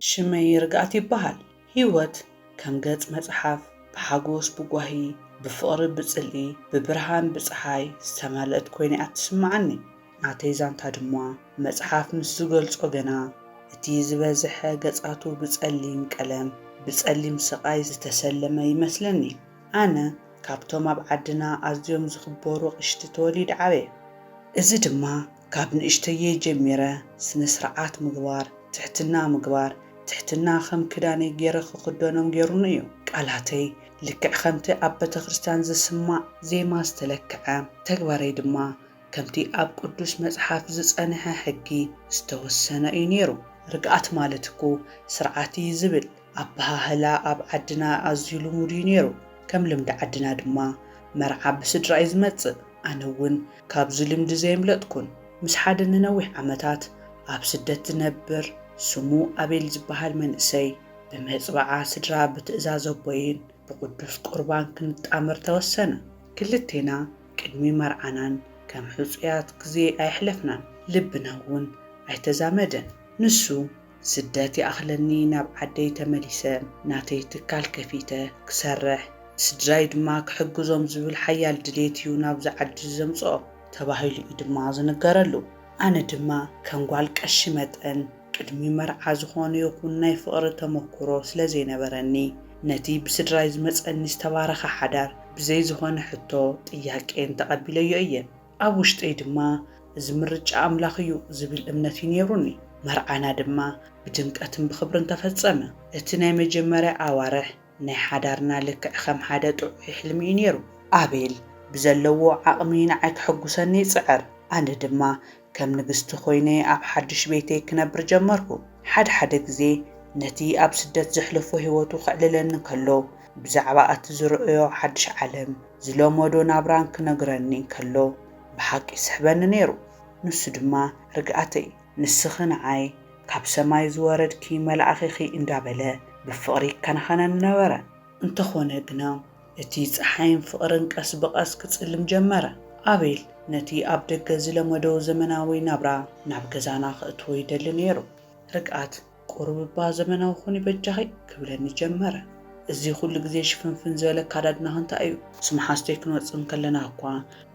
ሽመይ ርግኣት ይበሃል። ህይወት ከም ገጽ መጽሓፍ ብሓጎስ ብጓሂ ብፍቕሪ ብጽልኢ ብብርሃን ብጸሓይ ዝተመልእት ኮይና እያ እትስምዓኒ። ናተይ ዛንታ ድማ መጽሓፍ ምስ ዝገልጾ ገና እቲ ዝበዝሐ ገጻቱ ብጸሊም ቀለም ብጸሊም ስቓይ ዝተሰለመ ይመስለኒ። ኣነ ካብቶም ኣብ ዓድና ኣዝዮም ዝኽበሩ ኣቕሽቲ ተወሊደ ዓብየ። እዚ ድማ ካብ ንእሽተየይ ጀሚረ ስነ ስርዓት ምግባር፣ ትሕትና ምግባር፣ ትሕትና ከም ክዳነይ ገይረ ክኽደኖም ገይሩኒ እዩ። ቃላተይ ልክዕ ከምቲ ኣብ ቤተክርስትያን ዝስማዕ ዜማ ዝተለክዐ፣ ተግባረይ ድማ ከምቲ ኣብ ቅዱስ መጽሓፍ ዝጸንሐ ሕጊ ዝተወሰነ እዩ ነይሩ። ርግኣት ማለት እኮ ስርዓት እዩ ዝብል ኣበሃህላ ኣብ ዓድና ኣዝዩ ልሙድ እዩ ነይሩ። ከም ልምዲ ዓድና ድማ መርዓ ብስድራ እዩ ዝመጽእ። ኣነ እውን ካብዚ ልምዲ ዘየምለጥኩን። ምስ ሓደ ንነዊሕ ዓመታት ኣብ ስደት ዝነብር ስሙ ኣቤል ዝበሃል መንእሰይ ብመጽብዓ ስድራ ብትእዛዝ ኣቦይን ብቕዱስ ቁርባን ክንጣመር ተወሰነ። ክልቴና ቅድሚ መርዓናን ከም ሕጹያት ግዜ ኣየሕለፍናን። ልብና እውን ኣይተዛመደን። ንሱ ስደት ይኣኽለኒ ናብ ዓደይ ተመሊሰ ናተይ ትካል ከፊተ ክሰርሕ ንስድራይ ድማ ክሕግዞም ዝብል ሓያል ድሌት እዩ ናብዚ ዓዲ ዘምጽኦ ተባሂሉ እዩ ድማ ዝንገረሉ። ኣነ ድማ ከም ጓል ቀሺ መጠን ቅድሚ መርዓ ዝኾነ ይኹን ናይ ፍቕሪ ተመኩሮ ስለዘይነበረኒ ነቲ ብስድራይ ዝመጸኒ ዝተባረኸ ሓዳር ብዘይ ዝኾነ ሕቶ ጥያቄን ተቐቢለዮ እየ። ኣብ ውሽጠይ ድማ እዚ ምርጫ ኣምላኽ እዩ ዝብል እምነት እዩ ነይሩኒ። መርዓና ድማ ብድምቀትን ብኽብርን ተፈጸመ። እቲ ናይ መጀመርያ ኣዋርሕ ናይ ሓዳርና ልክዕ ከም ሓደ ጥዑይ ሕልሚ እዩ ነይሩ። ኣቤል ብዘለዎ ዓቕሚ ንዓይ ከሐጕሰኒ ይጽዕር፣ ኣነ ድማ ከም ንግስቲ ኰይነ ኣብ ሓድሽ ቤተይ ክነብር ጀመርኩ። ሓድሓደ ግዜ ነቲ ኣብ ስደት ዘሕለፎ ህይወቱ ከዕልለኒ ከሎ ብዛዕባ እቲ ዝረኣዮ ሓድሽ ዓለም፣ ዝለመዶ ናብራን ክነግረኒ እንከሎ ብሓቂ ይስሕበኒ ነይሩ። ንሱ ድማ ርግኣተይ፣ ንስኺ ንዓይ ካብ ሰማይ ዝወረድኪ መልኣኺ'ኺ እንዳበለ ብፍቕሪ ይከናኸነኒ ነበረ። እንተኾነ ግና እቲ ጸሓይን ፍቕርን ቀስ ብቐስ ክጽልም ጀመረ። ኣቤል ነቲ ኣብ ደገ ዝለመዶ ዘመናዊ ናብራ ናብ ገዛና ከእትዎ ይደሊ ነይሩ። ርግኣት። ቁሩብ'ባ ዘመናዊ ኩኒ በጃኺ ክብለኒ ጀመረ። እዚ ኩሉ ግዜ ሽፍንፍን ዝበለ ኣካዳድናኺ እንታይ'ዩ? ምስ መሓዙተይ ክንወጽእ እንከለና'ኳ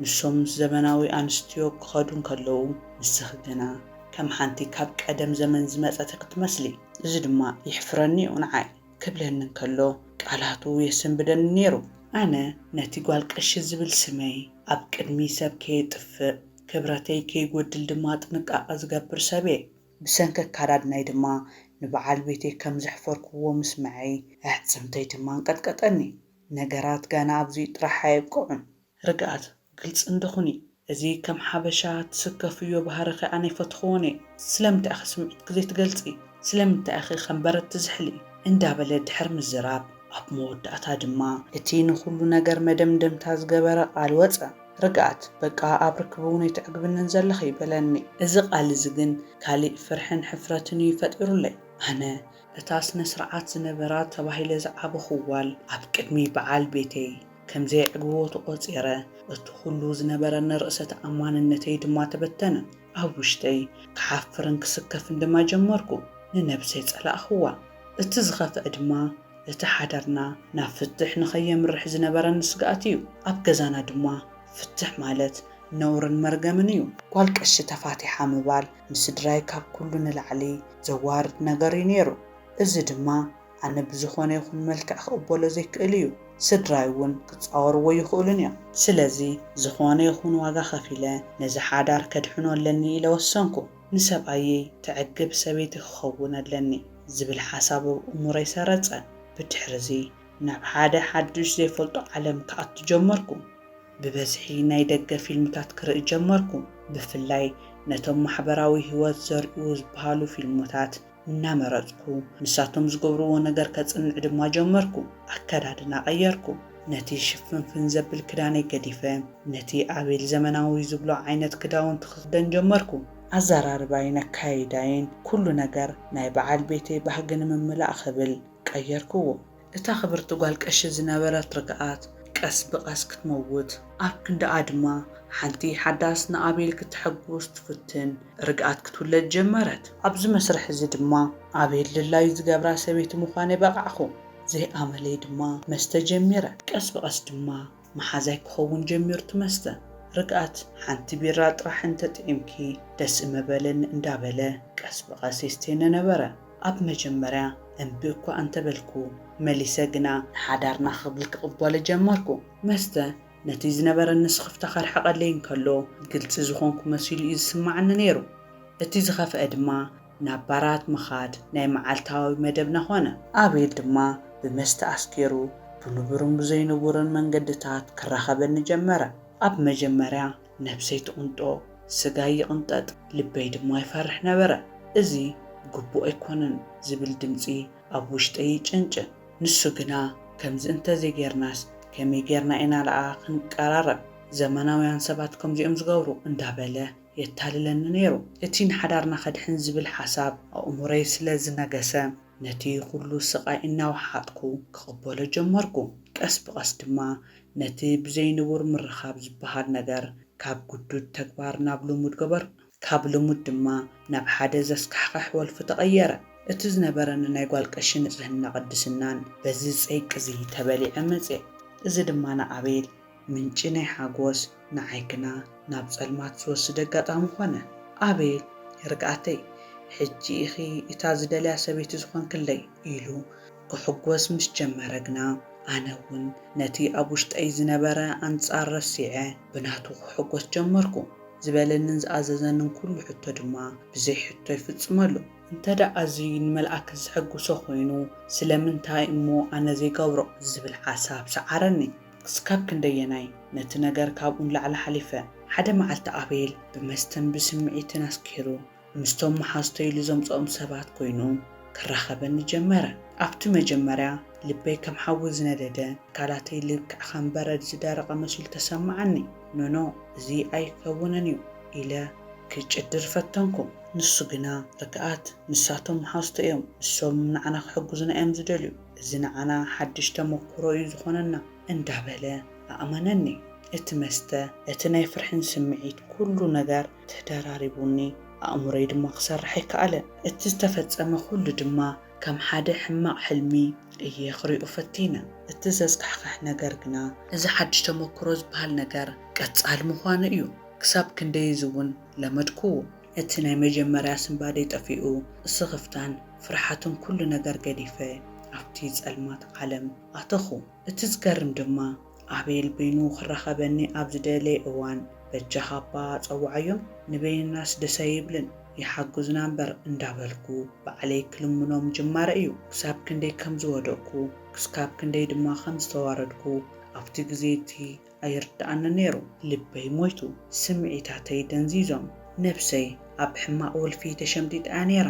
ንሶም ምስ ዘመናዊ ኣንስትዮ ክኸዱ እንከለዉ ንስኺ ግና ከም ሓንቲ ካብ ቀደም ዘመን ዝመጸት'ያ ክትመስሊ። እዚ ድማ የሕፍረኒ'ዩ ንዓይ። ክብለኒ እንከሎ ቃላቱ የሰንብደኒ ነይሩ። ኣነ ነቲ ጓል ቀሺ ዝብል ስመይ ኣብ ቅድሚ ሰብ ከየጥፍእ ክብረተይ ከይጎድል ድማ ጥንቃቐ ዝገብር ሰብ'የ። ብሰንኪ ኣካዳድናይ ድማ ንበዓል ቤተይ ከም ዘሕፈርኩዎ ምስመዐይ፣ ኣዕጽምተይ ድማ ኣንቀጥቀጠኒ። ነገራት ገና ኣብዚኡ ጥራሕ ኣየብቀዑን። ርግኣት፣ ግልጺ እንዶ ኩኒ። እዚ ከም ሓበሻ ትስከፍዮ ባህርኺ ኣነ ኣይፈትኹዎን እየ። ስለምንታይ'ኸ ስምዒትኪ ዘይትገልጺ? ስለምንታይ'ኺ ከም በረድ ትዝሕሊ? እንዳበለ ድሕሪ ምዝራብ፣ ኣብ መወዳእታ ድማ እቲ ንኹሉ ነገር መደምደምታ ዝገበረ ቃል ወጸ። ርግኣት፣ በቃ ኣብ ርክብ'ውን ኣይተዕግብንን ዘለኺ፣ በለኒ። እዚ ቃል እዚ ግን ካሊእ ፍርሕን ሕፍረትን እዩ ፈጢሩለይ። ኣነ፣ እታ ስነ-ስርዓት ዝነበራ ተባሂለ ዝዓበኹ ጓል፣ ኣብ ቅድሚ ብዓል ቤተይ ከም ዘየዕግቦ ተቖጺረ፣ እቲ ኩሉ ዝነበረኒ ርእሰ-ተኣማንነተይ ድማ ተበተነ። ኣብ ውሽጠይ ክሓፍርን ክስከፍን ድማ ጀመርኩ። ንነብሰይ ጸላእክዋ። እቲ ዝኸፍኣ ድማ እቲ ሓዳርና ናብ ፍትሕ ንኸየምርሕ ዝነበረኒ ስግኣት እዩ። ኣብ ገዛና ድማ ፍትሕ ማለት ነውርን መርገምን እዩ። ጓል ቀሺ ተፋቲሓ ምባል ንስድራይ ካብ ኩሉ ንላዕሊ ዘዋርድ ነገር እዩ ነይሩ። እዚ ድማ ኣነ ብዝኾነ ይኹን መልክዕ ክቕበሎ ዘይክእል እዩ፣ ስድራይ እውን ክጻወርዎ ኣይኽእሉን እዮም። ስለዚ ዝኾነ ይኹን ዋጋ ከፊለ ነዚ ሓዳር ከድሕኖ ኣለኒ ኢለ ወሰንኩ። ንሰብኣየይ ተዕግብ ሰበይቲ ክኸውን ኣለኒ ዝብል ሓሳብ ኣብ እምሮይ ሰረጸ። ብድሕርዚ ናብ ሓደ ሓድሽ ዘይፈልጦ ዓለም ክኣቱ ጀመርኩ። ብበዝሒ ናይ ደገ ፊልምታት ክርኢ ጀመርኩ፣ ብፍላይ ነቶም ማሕበራዊ ህይወት ዘርእዩ ዝበሃሉ ፊልሞታት። እናመረጽኩ፣ ንሳቶም ዝገብርዎ ነገር ከጽንዕ ድማ ጀመርኩ። ኣከዳድና ቀየርኩ። ነቲ ሽፍንፍን ዘብል ክዳነይ ገዲፈ፣ ነቲ ኣቤል ዘመናዊ ዝብሎ ዓይነት ክዳውንቲ ክኽደን ጀመርኩ። ኣዘራርባይን ኣከያይዳይን፣ ኩሉ ነገር ናይ በዓል ቤተይ ባህጊ ንምምላእ ክብል ቀየርክዎ። እታ ክብርቲ ጓል ቀሺ ዝነበረት ርግኣት ቀስ ብቐስ ክትመውት። ኣብ ክንድኣ ድማ ሓንቲ ሓዳስ ንኣቤል ክተሐጉስ ትፍትን ርግኣት ክትውለድ ጀመረት። ኣብዚ መስርሕ እዚ ድማ ኣቤል ድላዩ ዝገብራ ሰበይቲ ምዃነይ በቓዕኩ። ዘይኣመለይ ድማ መስተ ጀሚረ። ቀስ ብቐስ ድማ መሓዛይ ክኸውን ጀሚሩ ትመስጠ ርግኣት ሓንቲ ቢራ ጥራሕ እንተጥዒምኪ ደስ ምበለኒ እንዳበለ ቀስ ብቐስ የስትየኒ ነበረ ኣብ መጀመርያ እምቢ እኳ እንተበልኩ መሊሰ ግና ንሓዳርና ክብል ክቕበሎ ጀመርኩ መስተ ነቲ ዝነበረኒ ስኽፍታ ከርሕቐለይ እንከሎ ግልጺ ዝኾንኩ መሲሉ እዩ ዝስማዓኒ ነይሩ እቲ ዝኸፍኣ ድማ ናብ ባራት ምኻድ ናይ መዓልታዊ መደብና ዀነ። ኣቤል ድማ ብመስተ ኣስኪሩ ብንቡርን ብዘይንቡርን መንገድታት ክራኸበኒ ጀመረ። ኣብ መጀመርያ ነብሰይ ትቕንጦ፣ ስጋይ ይቕንጠጥ፣ ልበይ ድማ ይፈርሕ ነበረ። እዚ ግቡእ ኣይኰነን ዝብል ድምጺ ኣብ ውሽጠይ ይጭንጭን። ንሱ ግና ከምዚ እንተ ዘይጌርናስ ከመይ ጌርና ኢና ደኣ ክንቀራረብ፣ ዘመናውያን ሰባት ከምዚ'ዮም ዝገብሩ እንዳበለ፣ የታልለኒ ነይሩ። እቲ ንሓዳርና ከድሕን ዝብል ሓሳብ ኣእምሮይ ስለ ዝነገሰ፣ ነቲ ኹሉ ስቓይ እናወሓጥኩ ክቕበሎ ጀመርኩ። ቀስ ብቐስ ድማ ነቲ ብዘይ ንቡር ምርኻብ ዝበሃል ነገር ካብ ግዱድ ተግባር ናብ ልሙድ ገበርኩ። ካብ ልሙድ ድማ ናብ ሓደ ዘስካሕኽሕ ወልፊ ተቐየረ። እቲ ዝነበረኒ ናይ ጓል ቀሺ ንጽህና ቅድስናን በዚ ጸይቂ'ዚ ተበሊዐ መጽየ። እዚ ድማ ንኣቤል ምንጪ ናይ ሓጎስ ንዓይ ግና ናብ ጸልማት ዝወስድ ኣጋጣሚ ኮነ። ኣቤት ርግኣተይ! ሕጂ ኢኺ እታ ዝደልያ ሰበይቲ ዝኾንክለይ! ኢሉ ክሕጎስ ምስ ጀመረ ግና ኣነ እውን ነቲ ኣብ ውሽጠይ ዝነበረ ኣንጻር ረሲዐ ብናቱ ክሕጎስ ጀመርኩ። ዝበለንን ዝኣዘዘንን ኩሉ ሕቶ ድማ ብዘይ ሕቶ ይፍጽመሉ። እንተድኣ እዚ ንመልኣከ ዘሕጉሶ ኮይኑ ስለምንታይ እሞ ኣነ ዘይገብሮ? ዝብል ሓሳብ ሰዓረኒ። ክስካብ ክንደየናይ ነቲ ነገር ካብኡ ንላዕሊ ሓሊፈ። ሓደ መዓልቲ ኣቤል ብመስተን ብስምዒትን ኣስኪሩ ምስቶም መሓዝቶይ ኢሉ ዘምጸኦም ሰባት ኮይኑ ክራኸበኒ ጀመረ። ኣብቲ መጀመርያ ልበይ ከም ሓዊ ዝነደደ ኣካላተይ ልክዕ ከም በረድ ዝደረቐ መሲሉ ተሰማዓኒ። ኖኖ እዚ ኣይከውንን እዩ ኢለ ክጭድር ፈተንኩ። ንሱ ግና ርግኣት ንሳቶም መሓዝቶ እዮም ንሶም ንዓና ክሕግዙና እዮም ዝደልዩ። እዚ ንዓና ሓድሽ ተመኩሮ እዩ ዝኾነና እንዳበለ ኣእመነኒ። እቲ መስተ፣ እቲ ናይ ፍርሕን ስምዒት ኩሉ ነገር ተደራሪቡኒ ኣእምሮይ ድማ ክሰርሕ ኣይከኣለን። እቲ ዝተፈጸመ ኩሉ ድማ ከም ሓደ ሕማቕ ሕልሚ እየ ክሪኦ ፈቲነ። እቲ ዘስካሕክሕ ነገር ግና እዚ ሓድሽ ተመኩሮ ዝበሃል ነገር ቀጻሊ ምዃኑ እዩ። ክሳብ ክንደይ እዚ እውን ለመድኩዎ። እቲ ናይ መጀመርያ ስንባደይ ጠፊኡ፣ ስኽፍታን ፍርሓትን ኩሉ ነገር ገዲፈ ኣብቲ ጸልማት ዓለም ኣተኹ። እቲ ዝገርም ድማ ኣቤል በይኑ ክራኸበኒ ኣብ ዝደለየ እዋን በጃኻ'ባ ጸውዓዮም ንበይንናስ ደስ ኣይብልን ይሓግዙና እምበር እንዳበልኩ ባዕለይ ክልምኖ ምጅማረይ እዩ። ክሳብ ክንደይ ከም ዝወደቕኩ ክስካብ ክንደይ ድማ ከም ዝተዋረድኩ ኣብቲ ግዜ እቲ ኣይርድኣንን ነይሩ። ልበይ ሞይቱ፣ ስምዒታተይ ደንዚዞም፣ ነብሰይ ኣብ ሕማቕ ወልፊ ተሸምጢጣ እያ ነይራ።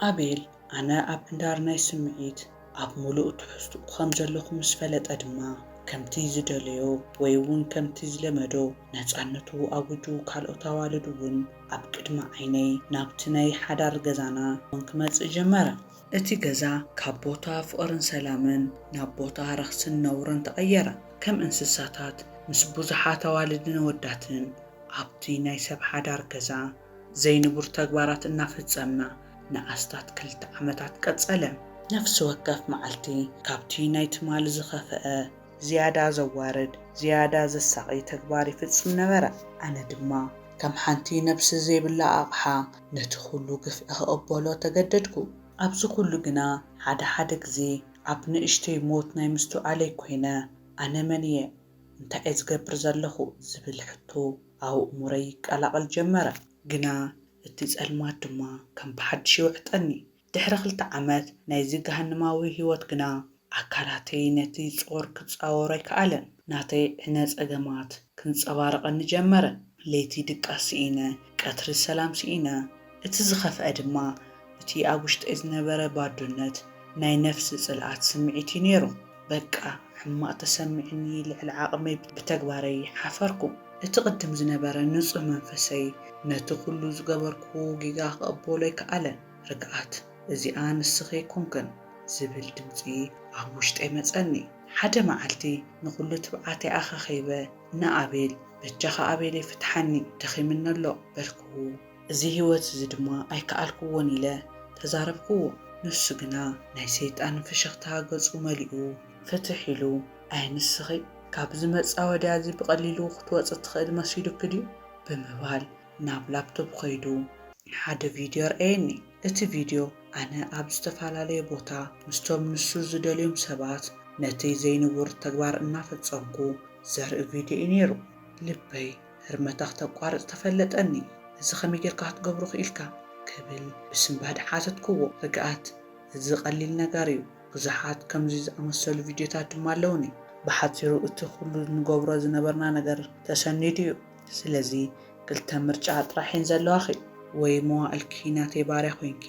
ኣቤል ኣነ ኣብ ሕንዳር ናይ ስምዒት ኣብ ምሉእ ትሕዝትኡ ከም ዘለኹ ምስ ፈለጠ ድማ፣ ከምቲ ዝደለዮ ወይ'ውን ከምቲ ዝለመዶ ነጻነቱ ኣዊጁ ካልኦት ኣዋልድ'ውን ኣብ ቅድሚ ዓይነይ ናብቲ ናይ ሓዳር ገዛና ውን ክመጽእ ጀመረ። እቲ ገዛ ካብ ቦታ ፍቕርን ሰላምን ናብ ቦታ ረኽስን ነውርን ተቐየረ። ከም እንስሳታት ምስ ብዙሓት ኣዋልድን ኣወዳትን ኣብቲ ናይ ሰብ ሓዳር ገዛ ዘይንቡር ተግባራት እናፈጸምና ንኣስታት ክልተ ዓመታት ቀጸለ። ነፍሲ ወከፍ መዓልቲ ካብቲ ናይ ትማሊ ዝኸፍኣ ዝያዳ ዘዋርድ፣ ዝያዳ ዘሳቒ ተግባር ይፍጽም ነበረ። ኣነ ድማ ከም ሓንቲ ነብሲ ዘይብላ ኣቕሓ ነቲ ዅሉ ግፍዒ ኽቕበሎ ተገደድኩ። ኣብዚ ዅሉ ግና፣ ሓደ ሓደ ግዜ ኣብ ንእሽተይ ሞት ናይ ምስትውዓለይ ኰይነ፣ ኣነ መን እየ? እንታይ እየ ዝገብር ዘለኹ? ዝብል ሕቶ ኣብ ኣእምሮይ ይቀላቐል ጀመረ። ግና እቲ ጸልማት ድማ ከም ብሓድሽ ይውሕጠኒ። ድሕሪ ክልተ ዓመት ናይዚ ገሃነማዊ ህይወት ግና፣ ኣካላተይ ነቲ ጾር ክጻወሮ ኣይከኣለን። ናተይ ዕነ ጸገማት ክንጸባረቐኒ ጀመረ። ለይቲ ድቃስ ስኢነ፣ ቀትሪ ሰላም ስኢነ። እቲ ዝኸፍኣ ድማ፣ እቲ ኣብ ውሽጠይ ዝነበረ ባዶነት፣ ናይ ነፍሲ ጽልኣት ስምዒት እዩ ነይሩ። በቃ ሕማቕ ተሰሚዑኒ፣ ልዕሊ ዓቕመይ ብተግባረይ ሓፈርኩ። እቲ ቅድም ዝነበረ ንጹህ መንፈሰይ፣ ነቲ ኩሉ ዝገበርክዎ ጌጋ ክቕበሎ ኣይከኣለን። ርግኣት፣ እዚኣ ንስኺ ኣይኮንክን ዝብል ድምጺ ኣብ ውሽጠይ መጸኒ። ሓደ መዓልቲ ንኹሉ ትብዓተይ ኣኻኺበ ንኣቤል፣ በጃኻ ኣቤለይ ፍትሓኒ፣ ደኺምኒ ኣሎ፣ በልክዎ። እዚ ህይወት እዚ ድማ ኣይከኣልክዎን ኢለ ተዛረብክዎ። ንሱ ግና ናይ ሰይጣን ፍሽኽታ ገጹ መሊኡ። ፍትሕ ኢሉ፣ ኣይ ንስኺ ካብዚ መጻወድያ እዚ ብቐሊሉ ክትወጺ እትኽእሊ መሲሉኪ ድዩ? ብምባል ናብ ላፕቶፕ ኸይዱ ሓደ ቪድዮ ኣርኣየኒ። እቲ ቪድዮ ኣነ ኣብ ዝተፈላለየ ቦታ ምስቶም ንሱ ዝደልዮም ሰባት ነቲ ዘይንቡር ተግባር እናፈጸምኩ ዘርኢ ቪድዮ እዩ ነይሩ። ልበይ ህርመታ ክተቋርጽ ተፈለጠኒ። እዚ ከመይ ጌርካ ክትገብሮ ክኢልካ? ክብል ብስንባደ ሓተትክዎ። ርግኣት፣ እዚ ቀሊል ነገር እዩ። ብዙሓት ከምዚ ዝኣመሰሉ ቪድዮታት ድማ ኣለዉኒ። ብሓጺሩ እቲ ኹሉ ንገብሮ ዝነበርና ነገር ተሰኒዱ እዩ። ስለዚ ክልተ ምርጫ ጥራሕ እየን ዘለዋኺ። ወይ መዋእልኪ ናተይ ባርያ ኮይንኪ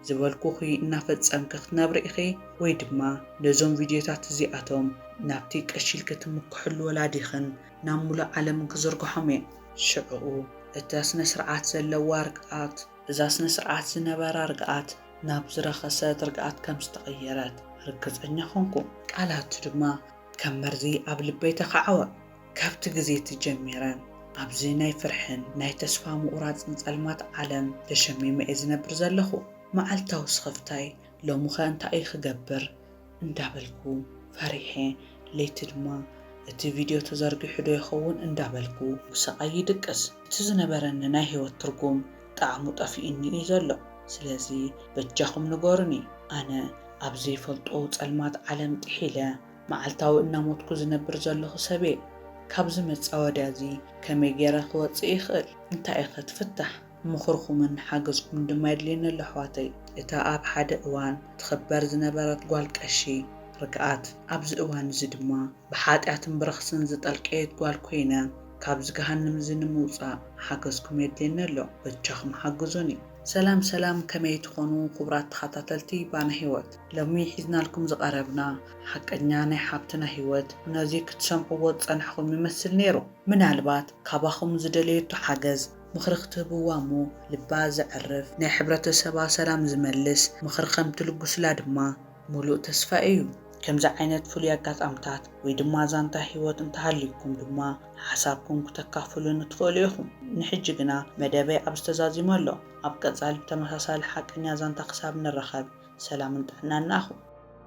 ዝበልኩኺ እናፈፀምኪ ክትነብሪ ኢኺ ወይ ድማ ነዞም ቪድዮታት እዚኣቶም ናብቲ ቀሺ ኢልኪ ትምክሕሉ ወላዲኽን ናብ ሙሉእ ዓለምን ክዝርግሖም እየ። ሽዕኡ እታ ስነ ስርዓት ዘለዋ ርግኣት። እዛ ስነ ስርዓት ዝነበራ ርግኣት ናብ ዝረኸሰት ርግኣት ከም ዝተቐየረት ርግፀኛ ኾንኩ። ቃላቱ ድማ ከም መርዚ ኣብ ልበይ ተኻዕወ። ካብቲ ግዜ እቲ ጀሚረ ኣብዚ ናይ ፍርሕን ናይ ተስፋ ምቑራጽን ጸልማት ዓለም ተሸሚመ'የ ዝነብር ዘለኹ። መዓልታዊ ስኽፍታይ ሎም'ኸ እንታይ'የ ክገብር? እንዳበልኩ ፈሪሐ፣ ለይቲ ድማ እቲ ቪድዮ ተዘርጊሑ'ዶ ይኸውን እንዳበልኩ ብስቓይ ይድቅስ። እቲ ዝነበረኒ ናይ ህይወት ትርጉም ጣዕሙ ጠፊኡኒ'ዩ ዘሎ። ስለዚ በጃኹም ንገሩኒ፣ ኣነ ኣብ ዘይፈልጦ ጸልማት ዓለም ጥሒለ፣ መዓልታዊ እናሞትኩ ዝነብር ዘለኹ ሰብ'የ። ካብዚ መጻወድያ'ዚ ከመይ ገይረ ክወጽእ ይኽእል? እንታይ'ኸ እቲ ፍታሕ? ምኽርኹምን ሓገዝኩምን ድማ የድልየኒ'ሎ ኣሕዋተይ። እታ ኣብ ሓደ እዋን ትኽበር ዝነበረት ጓል ቀሺ ርግኣት፣ ኣብዚ እዋን'ዚ ድማ ብሓጢኣትን ብረኽስን ዝጠልቀየት ጓል ኮይነ፣ ካብዚ ገሃንም'ዚ ንምውጻእ ሓገዝኩም የድልየኒ ኣሎ። በጃኹም ሓግዙኒ። ሰላም ሰላም ከመይ ትኾኑ ኩቡራት ተኻታተልቲ ባና ሂወት። ሎሚ ሒዝናልኩም ዝቐረብና ሓቀኛ ናይ ሓብትና ሂወት ነዚ ክትሰምዕዎ ዝጸናሕኹም ይመስል ኔሩ ምናልባት ካባኹም ዝደለየቶ ሓገዝ ምኽሪ ክትህብዋ እሞ ልባ ዘዕርፍ ናይ ሕብረተሰባ ሰላም ዝመልስ ምኽሪ ከም ትልጉስላ ድማ ሙሉእ ተስፋይ እዩ። ከምዚ ዓይነት ፍሉይ ኣጋጣምታት ወይ ድማ ዛንታ ሂወት እንተሃልዩኩም ድማ ሓሳብኩም ክተካፍሉኒ ትኽእሉ ኢኹም ንሕጂ ግና መደበይ ኣብ ዝተዛዚመ ኣሎ። ኣብ ቀጻሊ ብተመሳሳሊ ሓቀኛ ዛንታ ክሳብ ንራኸብ ሰላምን ጥዕናን ንኣኹም።